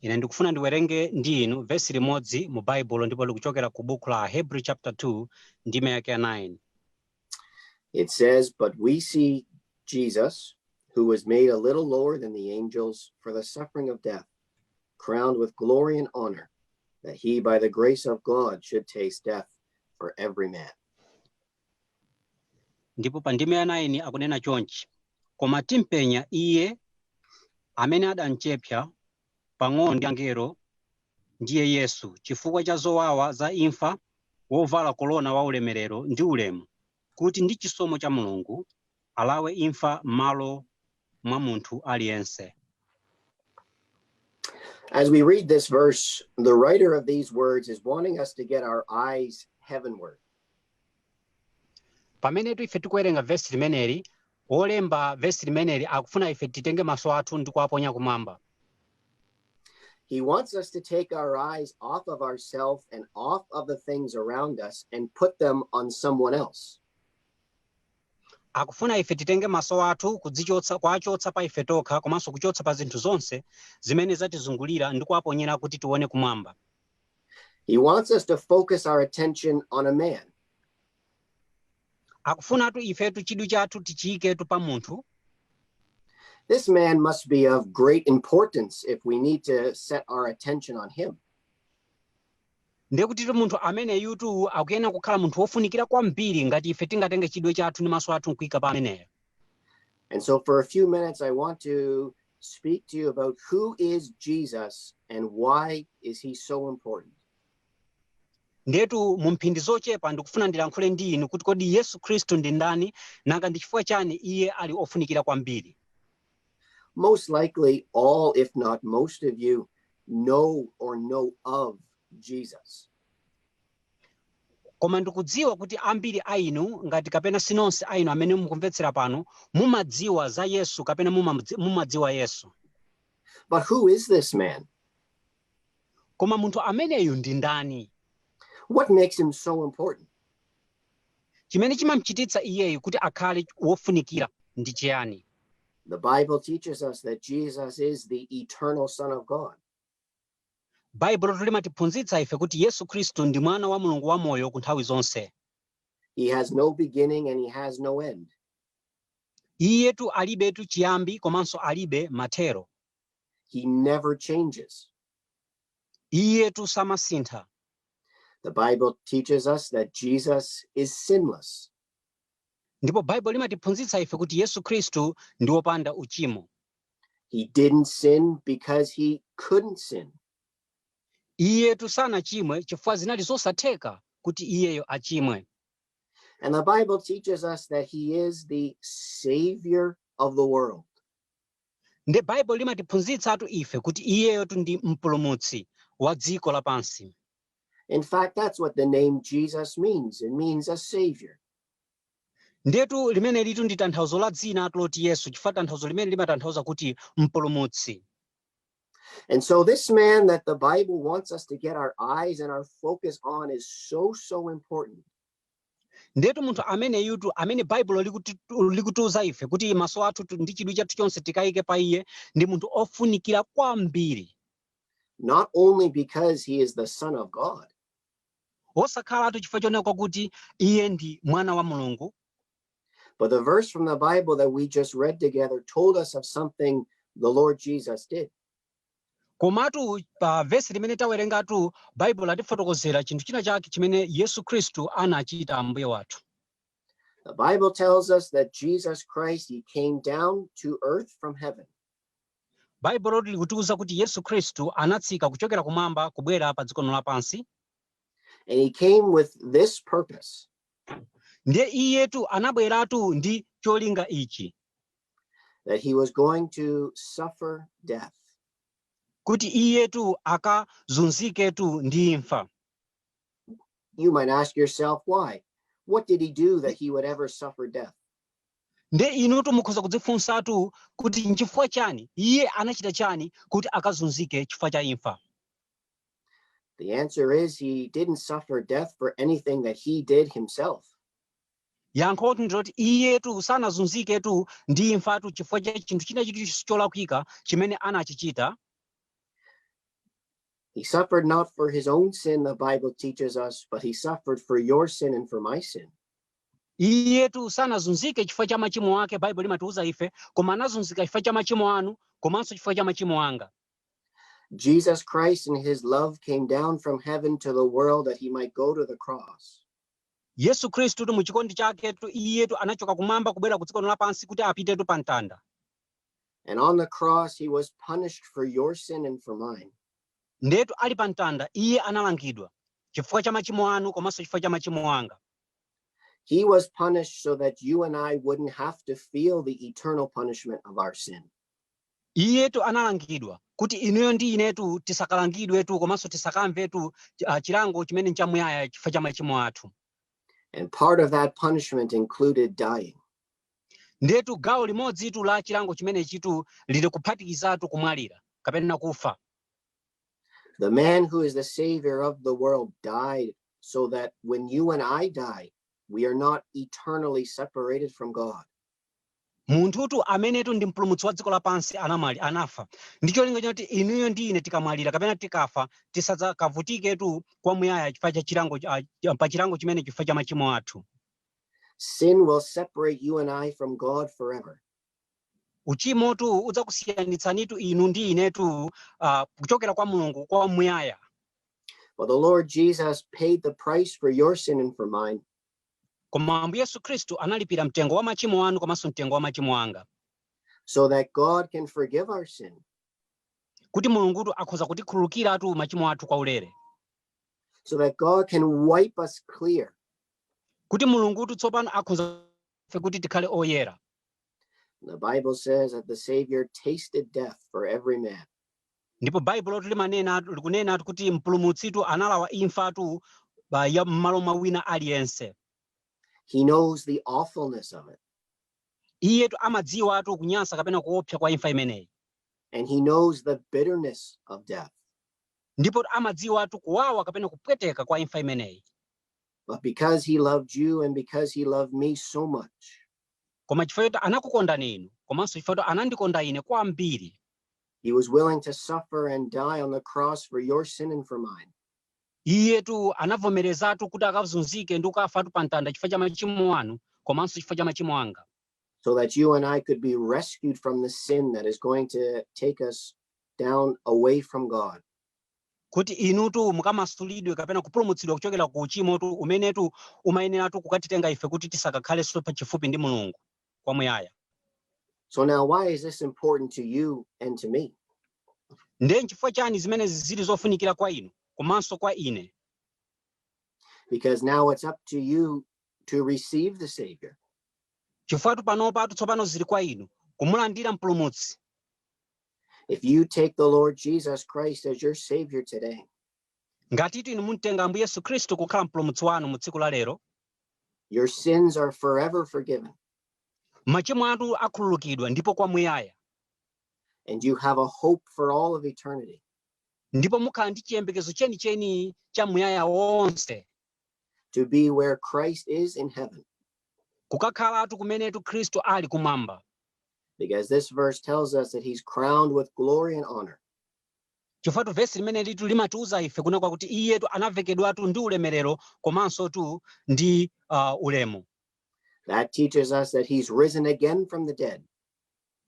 ine ndikufuna ndiwerenge ndi inu vesi limodzi mu baibulo ndipo likuchokera ku buku la hebrew chapter 2 ndime yake ya 9 It says, But we see Jesus, who was made a little lower than the angels for the suffering of death, crowned with glory and honor, that he by the grace of God should taste death for every man. Ndipo pa ndime ya 9 akunena chonchi, Koma timpenya Iye amene adamchepsa pang'ono ndi angelo, ndiye Yesu, chifukwa cha zowawa za imfa, wovala korona wa ulemerero ndi ulemu, kuti ndi chisomo cha Mulungu alawe imfa m'malo mwa munthu aliyense. As we read this verse, the writer of these words is wanting us to get our eyes heavenward. pamenetu ife tikuwerenga vesi limeneli wolemba vesi limeneli akufuna ife titenge maso athu ndi kuwaponya kumwamba He wants us to take our eyes off of ourselves and off of the things around us and put them on someone else. Akufuna ife titenge maso athu kudzichotsa, kuwachotsa pa ife tokha komanso kuchotsa pa zinthu zonse zimene zatizungulira ndi kuwaponyera kuti tione kumwamba. He wants us to focus our attention on a man. Akufunatu ifetu chidwi chathu tichiyiketu pa munthu. This man must be of great importance if we need to set our attention on him. Ndiye kutitu munthu ameneyutu akuyenera kukhala munthu wofunikira kwambiri ngati ife tingatenge chidwi chathu ndi maso athu n'kuika pa ameneyo. And so for a few minutes, I want to speak to you about who is Jesus and why is he so important. Ndiyetu mu mphindi zochepa ndikufuna ndilankhule ndi inu kuti kodi Yesu Khristu ndi ndani, nanga ndi chifukwa chani iye ali wofunikira kwambiri. Most likely, all, if not most of you, know or know of Jesus. koma ndikudziwa kuti ambiri a inu ngati kapena si nonse a inu amene mukumvetsera pano mumadziwa za yesu kapena mumamdzi- mumadziwa yesu But who is this man? koma munthu ameneyu ndi ndani What makes him so important? Chimene chimamchititsa iyeyu kuti akhale wofunikira ndi chiyani? The Bible teaches us that Jesus is the eternal Son of God. Baibulotu limatiphunzitsa ife kuti Yesu Khristu ndi Mwana wa Mulungu wamoyo ku nthawi zonse. He has no beginning and he has no end. Iyetu alibetu chiyambi komanso alibe mathero. He never changes. Iyetu samasintha. The Bible teaches us that Jesus is sinless. Ndipo Baibulo limatiphunzitsa ife kuti Yesu Kristu ndi wopanda uchimo. He didn't sin because he couldn't sin. Iyetu sanachimwe chifukwa zinali zosatheka kuti iyeyo achimwe. And the Bible teaches us that he is the savior of the world. Nde Baibulo limatiphunzitsatu ife kuti iyeyotu ndi mpulumutsi wa dziko la pansi. In fact, that's what the name Jesus means. It means a savior. Ndiyetu limenelitu ndi tanthauzo la dzinatu loti Yesu chifukwa tanthauzo limene limatanthauza kuti mpulumutsi. And so this man that the Bible wants us to get our eyes and our focus on is so, so important. ndetu munthu ameneyutu amene baibulo likutiuza ife kuti maso athu ndi chidwi chathu chonse tikayike pa iye ndi munthu ofunikira kwambiri not only because he is the Son of God, osakhalatu chifukwa chongonena kuti iye ndi mwana wa mulungu but the verse from the Bible that we just read together told us of something the Lord Jesus did. Komatu pa vesi limene tawerengatu, Baibulo latifotokozera chinthu china chake chimene Yesu Khristu anachita Ambuye wathu. The Bible tells us that Jesus Christ, he came down to earth from heaven. Baibulo likutiuza kuti Yesu Khristu anatsika kuchokera kumwamba kubwera pa dziko lino lapansi. And he came with this purpose. Ndiye iyetu anabweratu ndi cholinga ichi. that he was going to suffer death. kuti iyetu akazunziketu ndi imfa You might ask yourself why. What did he do that he would ever suffer death? nde inutu mukhoza kudzifunsatu kuti nchifukwa chani iye anachita chani kuti akazunzike chifukwa cha imfa The answer is he didn't suffer death for anything that he did himself. Yankhotu ndi loti, iyetu sanazunziketu ndi imfatu chifukwa cha chinthu china chilichonse cholakwika chimene anachichita. He suffered not for his own sin, the Bible teaches us, but he suffered for your sin and for my sin. Iyetu sanazunzike chifukwa cha machimo ake, Baibulo limatiuza ife, koma anazunzika chifukwa cha machimo anu komanso chifukwa cha machimo anga. Jesus Christ in his love came down from heaven to the world that he might go to the cross. Yesu Khristutu mu chikondi chaketu iyetu anachoka kumwamba kubwera ku dziko lino lapansi kuti apitetu pa mtanda. And on the cross, he was punished for your sin and for mine. Ndetu ali pa mtanda iye analangidwa chifukwa cha machimo anu komanso chifukwa cha machimo anga. He was punished so that you and I wouldn't have to feel the eternal punishment of our sin. Iyetu analangidwa kuti inuyo ndi inetu tisakalangidwetu komanso tisakamvetu ah, chilango chimene nchamuyaya chifukwa cha machimo athu. And part of that punishment included dying. Ndiyetu gawo limodzitu la chilango chimenechitu lili kuphatikizatu kumwalira kapena kufa. The man who is the savior of the world died so that when you and I die, we are not eternally separated from God. Munthutu amenetu ndi Mpulumutsi wa dziko lapansi anamwali, anafa ndi cholinga choti inuyo ndi ine tikamwalira kapena tikafa tisadzakavutiketu kwamuyaya chifukwa cha chilango, ah, pa chilango chimene chifukwa cha machimo athu. Sin will separate you and I from God forever. Uchimotu udzakusiyanitsanitu inu ndi inetu ah, kuchokera kwa Mulungu kwamuyaya. But the Lord Jesus paid the price for your sin and for mine. Koma Ambuye Yesu Khristu analipira mtengo wa machimo anu komanso mtengo wa machimo anga. So that God can forgive our sin. Kuti Mulungutu akhoza kutikhululukiratu machimo athu kwa ulere. So that God can wipe us clear. Kuti Mulungutu tsopano akhoza kuti tikhale oyera. The Bible says that the Savior tasted death for every man. Ndipo Baibulotu limanena, likunenatu kuti Mpulumutsitu analawa imfatu ba, ya mmalo mwa wina aliyense. He knows the awfulness of it. Iyetu amadziwatu kunyansa kapena kuopsa kwa imfa imeneyi. And he knows the bitterness of death. Ndipo amadziwatu kuwawa kapena kupweteka kwa imfa imeneyi. But because he loved you and because he loved me so much. Koma chifukwa choti anakukondani inu komanso chifukwa choti anandikonda ine kwambiri. He was willing to suffer and die on the cross for your sin and for mine. iyetu anavomerezatu kuti akazunzike ndi kukafatu pa mtanda chifukwa cha machimo anu komanso chifukwa cha machimo anga so that you and I could be rescued from the sin that is going to take us down away from God. kuti inutu mukamasulidwe kapena kupulumutsidwa kuchokera ku uchimotu umenetu umayeneratu kukatitenga ife kuti tisakakhalenso pa chifupi ndi mulungu kwamuyaya So now why is this important to you and to me? ndiye nchifukwa chani zimenezi zili zofunikira kwa inu komanso kwa ine Because now it's up to you to receive the Savior. chifukwatu panopatu tsopano zili kwa inu kumulandira mpulumutsi If you take the Lord Jesus Christ as your Savior today, ngatitu inu mumtenga ambuye yesu khristu kukhala mpulumutsi wanu mu tsiku la lero Your sins are forever forgiven, machimo anu akhululukidwa ndipo kwamuyaya and you have a hope for all of eternity. ndipo mukhala ndi chiyembekezo chenicheni cha muyaya wonse to be where Christ is in heaven. kukakhalatu kumenetu khristu ali kumwamba Because this verse tells us that he's crowned with glory and honor. Chifukwatu vesi limenelitu limatiuza ife kunena kwakuti iyetu anavekedwatu ndi ulemerero komansotu ndi uh, ulemu. That teaches us that he's risen again from the dead.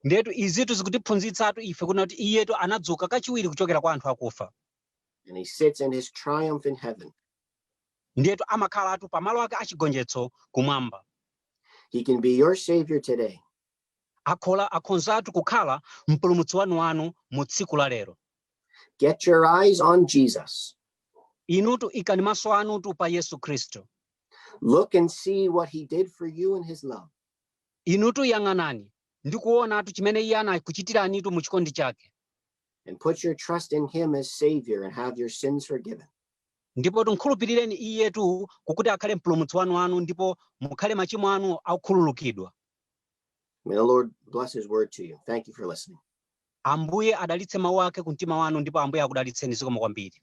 Ndiyetu izitu zikutiphunzitsatu ife kunena kuti iyetu anadzuka kachiwiri kuchokera kwa anthu akufa. And he sits in his triumph in heaven. Ndiyetu amakhalatu pamalo ake achigonjetso kumwamba. He can be your savior today. akhola akhonzatu kukhala mpulumutsi wanu wanu mu tsiku la lero. Get your eyes on Jesus. Inutu ikani maso anutu pa Yesu Khristu. Look and see what he did for you in his love. Inutu yang'anani ndi kuonatu chimene iye anakuchitiranitu mu chikondi chake. And put your trust in him as savior and have your sins forgiven. Ndipotu mukhulupirireni iyetu kukuti akhale mpulumutsi wanu wanu ndipo mukhale machimo anu akukhululukidwa. May the Lord bless his word to you. Thank you for listening. ambuye adalitse mawu ake ku mtima wanu ndipo ambuye akudalitseni zikomo kwambiri